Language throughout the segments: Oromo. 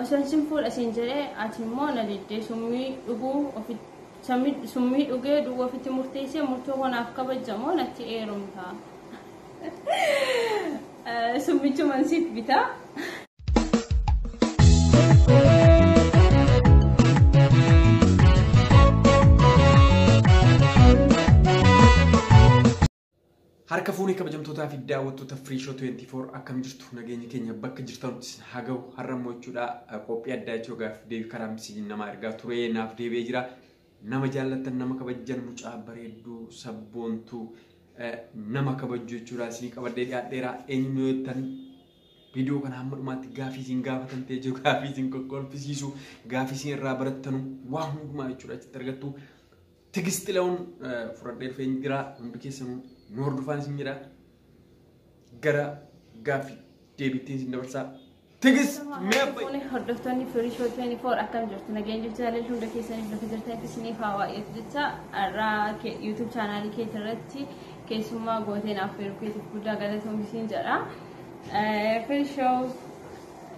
Osoon sin fuudha siin jedhee ati immoo na diddee summii dhuguu ofitti sammi- summii dhugee du'uu ofitti murteessee murtoo koo naaf kabajja moo natti heerumta. Eh, Summichuman siif bitaa. Harka fuunee kabajamtootaa fi daawwattoota Free Show 24 akkam jirtu nageenyi keenya bakka jirtanutti isin haa gahu har'a immoo jechuudha qophii addaa jechuudha gaaffi deebii karaa miseejiin namaa ergaa ture naaf deebi'ee jira nama jaallattan nama kabajjan mucaa bareedduu sabboontuu eh, nama kabajju jechuudha isinii qabadhee dhiyaadheera eenyu yoo jettan viidiyoo kana hamma dhumaatti gaafii isin gaafatan ta'e jiru gaafii isin kokkolfisiisu gaafii isin irraa barattanu waa hundumaa jechuudha achitti argattu Tigist Xilawun fudhadhee dhufee hin jira. Hundi keessanuu nu hordofaan isin jira. Gara gaaffii deebittiin isin dabarsaa. Tigist mee abbayyi. Fuune hordoftoonni firii shoo 24 akkam jirtu nageenya jirtu jaalala hunda keessaniif lafa jirtanitti isiniif haa waa'eetu jecha har'aa yuutuub chaanaalii keetii irratti keessummaa gooteen affeeruu keetiif guddaa galatoomi siin jedha. Firii shoo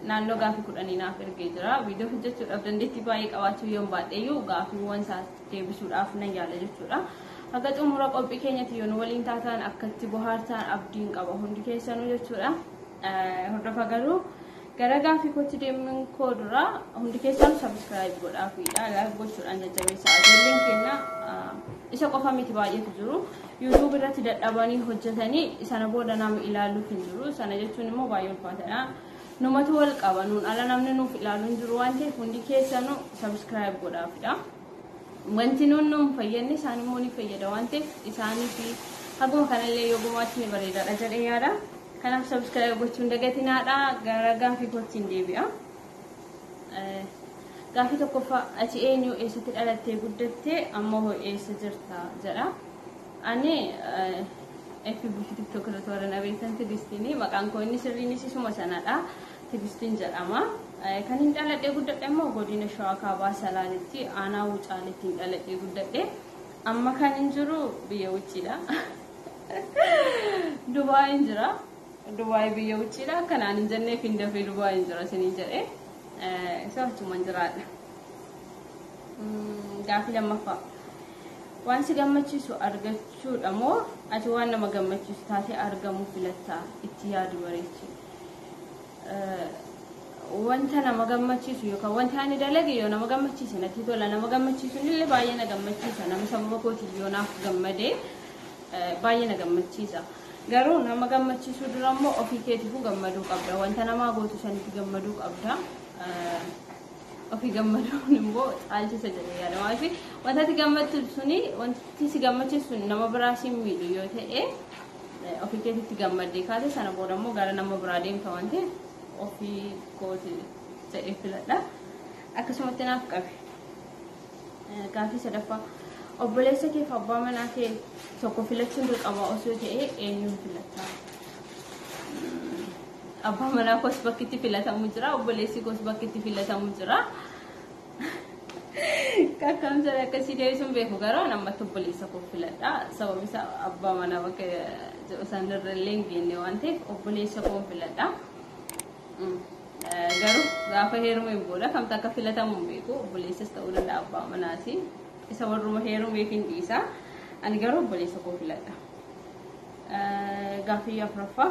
Naannoo gaafii kudhanii naaf ergee jira. Viidiyoo hojjechuudhaaf dandeettii baay'ee qabaachuu yoon baadheyyuu gaafiiwwan isaa deebisuudhaaf nan yaala jechuudha. Haga xumura qophii keenyatti yoo nu waliin taataan akka itti bohaartaan abdiin qaba hundi keessanuu jechuudha. Eh, Hordofa garuu gara gaafii kootti deemuun koo dura hundi keessanuu sabiskiraayib godhaa fi laayik gochuudhaan jajjabeessaa. Ijoolleen keenya ah, isa qofa miti baay'eetu jiru. YouTube irratti dadhabanii hojjetanii sana booda nama ilaaluuf hin jiru. Sana jechuun immoo baay'ee ulfaataadha. Numatu wal qaba nuun ala namni nuuf ilaalu hin jiru waan ta'eef hundi keessanuu subscribe godhaafidha. Wanti nuun nuun fayyadne isaan immoo ni fayyada waan ta'eef isaanii fi haguma kanallee yoo gumaachi ni bareedaadha jedhee yaada. Kanaaf subscribe gochuun dagatinaadha. Gara gaafii kootiin deebi'a. Gaaffii tokkoffaa ati eenyu eessatti dhalattee guddatte amma hoo eessa jirta jedha. Ani FB fi TikTok irratti warra na beektan Tigistiini. Maqaan koo inni sirriinis isuma sanadha. Tigistiin jedhama. Kan hin dhaladhee guddadhe immoo godina Shawaa Kaabaa Salaalitti aanaa Wucaaleetti hin dhaladhee guddadhe. Amma kan hin jiru biyya Wucciidha. Dubaayin jira. Dubai biyya uchiidha akka naan hin jenneef hin dafee Dubai hin jira isiniin jedhe isa achuman jiraadha. Gaafii lammaffaa waan si gammachiisu argachuudha moo ati waan nama gammachiisu taatee argamuu filatta itti yaadu bareechi. Wanta nama gammachiisu yookaan wanta ani dalage yoo nama gammachiise natti tola nama gammachiisu illee baay'ee na gammachiisa nama sababa kootiif yoo naaf gammadee. baay'ee na gammachiisa. Garuu nama gammachiisuu dura immoo ofii keetiifuu gammaduu qabda. Wanta namaa gootu sanitti gammaduu qabda. Ofii gammaduun immoo caalchisa jedhee yaada. Maaliif wanta ati gammachiisu suni wanti si gammachiisu suni nama biraa si miidhu yoo ta'e ofii keetitti gammaddee kaate sana booda immoo gara nama biraa deemta waan ta'eef ofii kooti jedhee filadha. Akkasumatti naaf qabe. Gaafii sadaffaa. Obboleessa keef abbaa manaa kee tokko filachuun dirqamaa osoo ta'ee eenyuun filatta? Abbaa manaa koos bakki itti filatamu jira, obboleessi koos bakki itti filatamu jira. Kakkamsa akkasii deebisuun beeku garuu an ammatti obboleessa koo filadha. Sababni isaa abbaa manaa bakka jedhu sanarra illee hin geenye waan ta'eef obboleessa koo filadha. Garuu gaafa heerumeen booda kamtu akka filatamu hin beeku. Obboleessas ta'uu danda'a abbaa manaati. Isa warruma heerumeef hin dhiisa. Ani garuu obboleessa koo filadha. Gaaffii afuraffaa.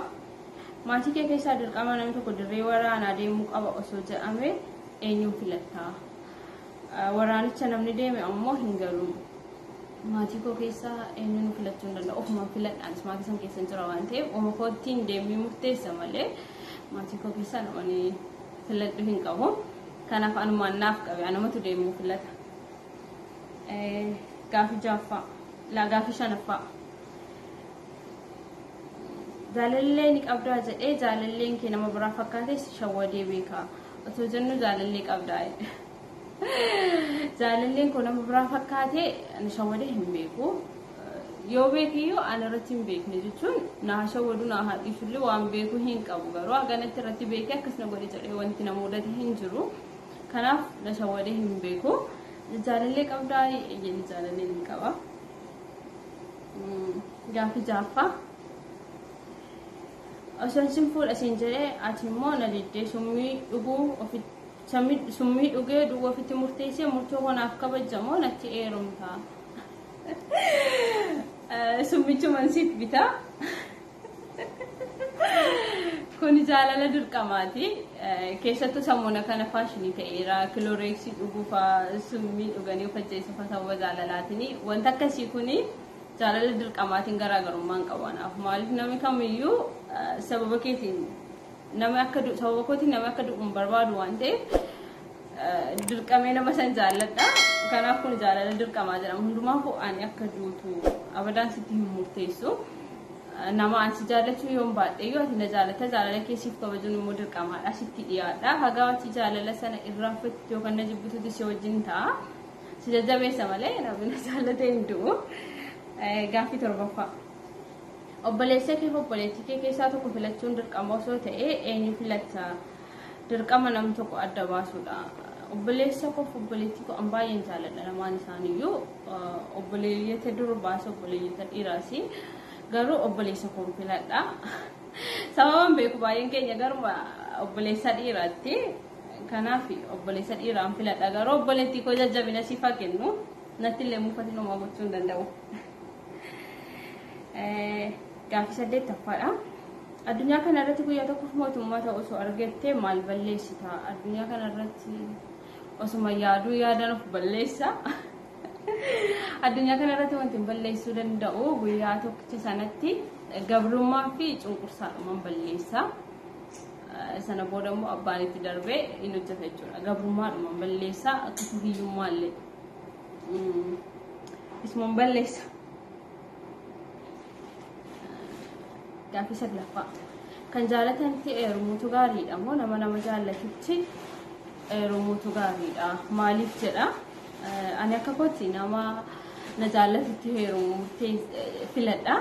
Maatii kee keessaa dirqama namni tokko dirree waraanaa deemuu qaba osoo jedhame eenyuun filattaa? Waraanicha namni deeme ammoo hin galu. Maatii koo keessaa eenyuun filachuu hin danda'u. Ofumaan filadhaanis maatii san keessa hin jira waan ta'eef ofuma koottiin deemee murteessa malee. Maatii koo keessaa namni filadhu hin qabu. Kanaaf anumaan naaf qabe anumatu deemuu filata. Gaafii jaaffaa. Laa gaafii shanaffaa. Jaalallee ni qabdaa jedhee jaalalleen kee nama biraa fakkaatee si shawwadee beekaa. Otoo jennu jaalallee qabdaa. Jaalalleen koo nama biraa fakkaatee na shawwadee hin beeku. Yoo beekiyyuu an irratti hin beekne jechuun na shawwadu na haadhiisullee waan beeku hin qabu garuu haganatti irratti beekee akkas na godhe jedhee wanti na mudate hin jiru. Kanaaf na shawwadee hin beeku. Jaalallee qabdaa eeyyeen jaalallee ni qaba. Gaaffii jaaffaa. Osoo isin fuudha isin jedhee ati immoo na diddee summii dhuguu ofitti Samid summii dhugee du'uu ofitti murteessee murtoo koo naaf kabajja moo natti eerumta? Summichuman siif bita. Kuni jaalala dirqamaati. Keessattuu sammuna kana faashinii ta'eera. Kilooreeksii dhuguufa summii dhuganii of ajjeesuufa sababa jaalalaatiin. Wanta akkasii kuni jaalala dirqamaatiin garaagarummaa hin qabu anaaf. Maaliif namni kamiyyuu sababa keetiin Nama akka du'u sababa kootiin nama akka du'u hin barbaadu waan ta'eef dirqamee nama san jaalladha. Kanaaf kun jaalala dirqamaa jedhama. Hundumaafuu ani akka duutu abadaan sitti hin murteessu. Nama ani si jaallachuu yoon baadheyyuu ati na jaallata jaalala kee siif kabajuun immoo dirqamaadha sitti dhiyaadha. Hagaa ati jaalala sana irraanfattu yookaan na jibbitutti si wajjin ta'a. Si jajjabeessa malee namni na jaallatee hin du'u. Gaaffii torbaffaa. Obboleessakeef obboleettiikee keessaa tokko filachuun dirqama osoo ta'ee eenyu filatta? Dirqama nam tokko adda baasuudha. Obboleessakoof obboleettiikoo an baay'een jaaladha lamaan isaaniiyyuu obboleeyyota durbaas obboleeyyota dhiiraas garuu obboleessa koon filadha. Sababaan beeku baay'een keenya garuma obboleessa dhiiraatti. Kanaaf obboleessa dhiiraan filadha garuu obboleettiikoo jajjabina siif haa kennu. Nattillee mufatiin homaa gochuu hin danda'u. Gaaffii saddeettaffaadha. Addunyaa kana irratti guyyaa tokkoof mootummaa ta'u osoo argattee maal balleessita? Addunyaa kana irratti osuma yaaduu yaadaan of balleessa. Addunyaa kana irratti wanti balleessuu danda'u guyyaa tokkicha sanatti gabrummaa fi cunqursaadhumaan balleessa. Sana booda immoo abbaan itti darbee hin hojjeta jechuudha. Gabrummaadhumaan balleessa akkasuma hiyyummaa illee. Ismoon balleessa. Gaaffii saglaffaa. Kan jaalatanitti eerumuutu gaariidha moo nama nama jaallatutti eerumuutu gaariidha? Maaliif jedha? Ani akka kootti nama na jaallatutti heerumuu murtee filadha.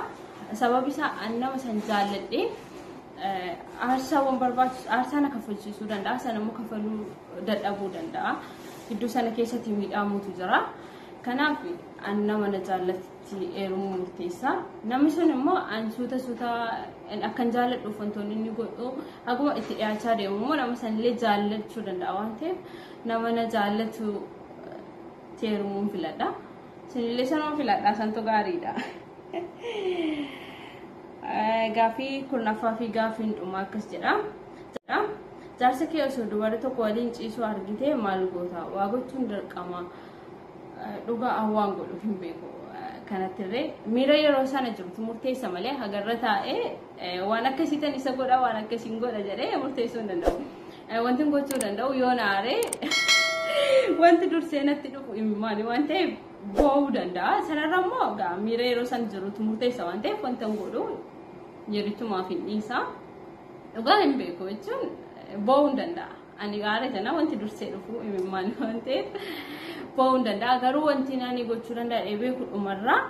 Sababi isaa ani nama san jaalladhee aarsaawwan barbaachisu aarsaa na kaffalchiisuu danda'a sana immoo kaffaluu dadhabuu danda'a. Gidduu sana keessatti miidhaamuutu jira. Kanaaf an nama na jaallatti eerumuu murteessa. Namni sun immoo an suuta suuta akkan jaalladhuuf wantoonni inni godhu haguma itti dhiyaachaa deemu immoo nama sanillee jaallachuu danda'a waan ta'eef nama na jaallatu eerumuun filadha. Sinillee sanuma filadhaa santu gaariidha. Gaaffii kurnaffaa fi gaaffiin dhumaa akkas jedha. Jaarsa kee osoo dubarri tokko waliin ciisuu argitee maal goota? Waa gochuun dirqama. Dhugaa an waan godhu hin beeku. Kanattirree miira yeroo sana jirtu murteessa malee hagarra taa'ee waan akkasii tan isa godha waan akkasii hin godha jedhee murteessuu hin danda'u. Wanti gochuu danda'u yoo na aaree wanti dursee natti dhufu imimmaani waan ta'eef boo'uu danda'a. Sanarra immoo egaa miira yeroo san jirutu murteessa waan ta'eef wanta hin godhu yeritumaaf hin dhiisa. Dhugaa hin beeku jechuun boo'uu hin danda'a. Ani gaara jenna wanti dursee dhufu imimmaan waan ta'eef boo'uu hin danda'a. Garuu wanti ani gochuu danda'a dheebee kudhumarraa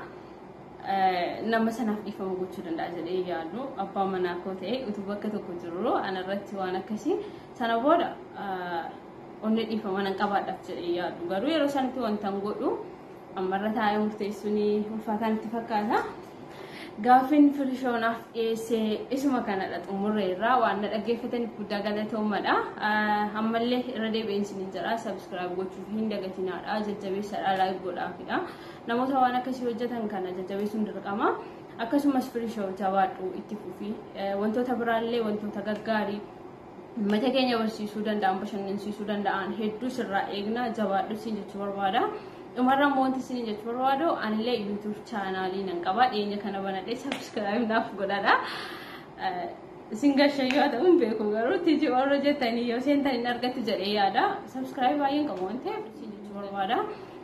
nama sanaaf dhiifama gochuu danda'a jedhee yaadu abbaa manaa koo ta'e utuu bakka tokko jiru anarratti waan akkasii sana booda Onnee dhiifama nan qabaadhaaf jedhee yaadu. Garuu yeroo sanitti wantan godhu ammarra taa'ee murteessuun ulfaataa natti fakkaata. Gaaffiin firishoonaaf dhiyeesse isuma kanadha xumurre irraa waan na dhaggeeffataniif guddaa galatoomadha. Ammallee irra deebi'een isiniin jedha sabiskiraayib gochuuf hin dagatinaadha jajjabeessadha laayik godhaafidha. Namoota waan akkasii hojjetan kana jajjabeessuun dirqama. Akkasumas firishoo jabaadhu itti fufi wantoota biraallee wantoota gaggaarii Uummata keenya barsiisuu danda'an, bashannansiisuu danda'an hedduu sirraa eegna jabaadhu siin jechuu barbaada. Dhumarra immoo wanti siin jechuu barbaadu anillee YouTube chaanaalii nan qaba dhiyeenya kana banadhee subscribe naaf godhadha. Isin gashayyoo haa ta'uun beeku garuu tiji warra jettanii yoo seentan hin argattu jedhee yaada. Subscribe baay'een qabu waan ta'eef siin jechuu barbaada.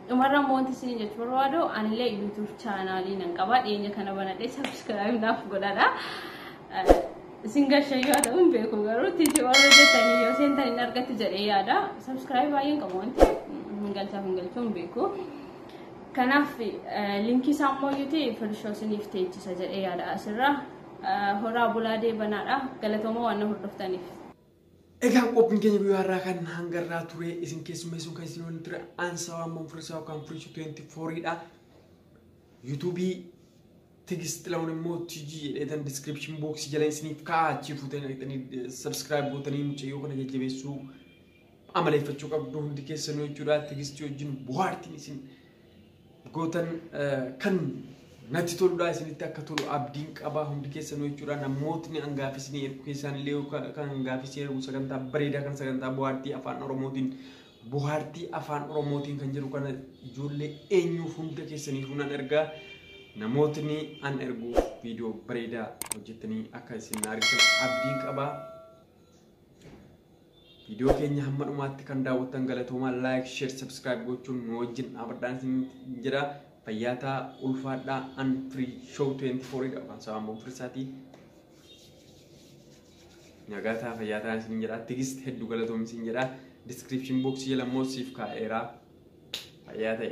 Dhumarra immoo wanti siin jechuu barbaadu anillee YouTube chaanaalii nan qaba dhiyeenya kana banadhee subscribe naaf godhadha. Isin gashayyoo haa ta'uun beeku garuu titi warra jettanii yoo seentan hin argatti jedhee yaada. Subscribe baay'een qabu waan ta'eef hin galchaa hin galchuu hin beeku. Kanaaf linkii isaa immoo yuuti firishoo isiniif teechisa jedhee yaada asirra. Horaa bulaa deebanaadha. Galatooma waan na hordoftaniif. Egaa qophiin keenya guyyaa har'aa kan hangarraa ture isin keessummeessuun kan isin waliin ture aansaa waan manfursaa yookaan furisu 24 dha. Yuutuubii Tigist Xilahun immoo TG jedheetan description box jala isiniif kaa'a achii fuutanii dhaqxanii subscribe gootanii mucayyoo kana jajjabeessuu amaleeffachuu qabdu hundi keessanuu jechuudha. Tigistii wajjin bohaartiin isin gootan kan natti toludha isinitti akka tolu abdiin qaba hundi keessanuu jechuudha. Namootni hangaaf isinii ergu keessaan illee kan hangaaf isinii ergu sagantaa bareedaa kan sagantaa bohaartii afaan Oromootiin Bohaartii afaan Oromootiin kan jedhu kana ijoollee eenyuuf hunda keessaniifuu nan ergaa namootni an erguuf viidiyoo bareedaa hojjettanii akka isin na argitan abdiin qaba. Viidiyoo keenya hamma dhumaatti kan daawwattan galatoomaa laayik, sheer, sabskiraayib gochuun nu wajjin dhaabadhaan isin jedha. Fayyaataa ulfaadhaa an firii shoow 24 dha. Afaan Sawaamboon Firisaatii. Nagaa ta'a fayyaa ta'a isin jedha. Tigist hedduu galatoomi isin jedha. Description box jala immoo siif kaa'eera. Fayyaa ta'e.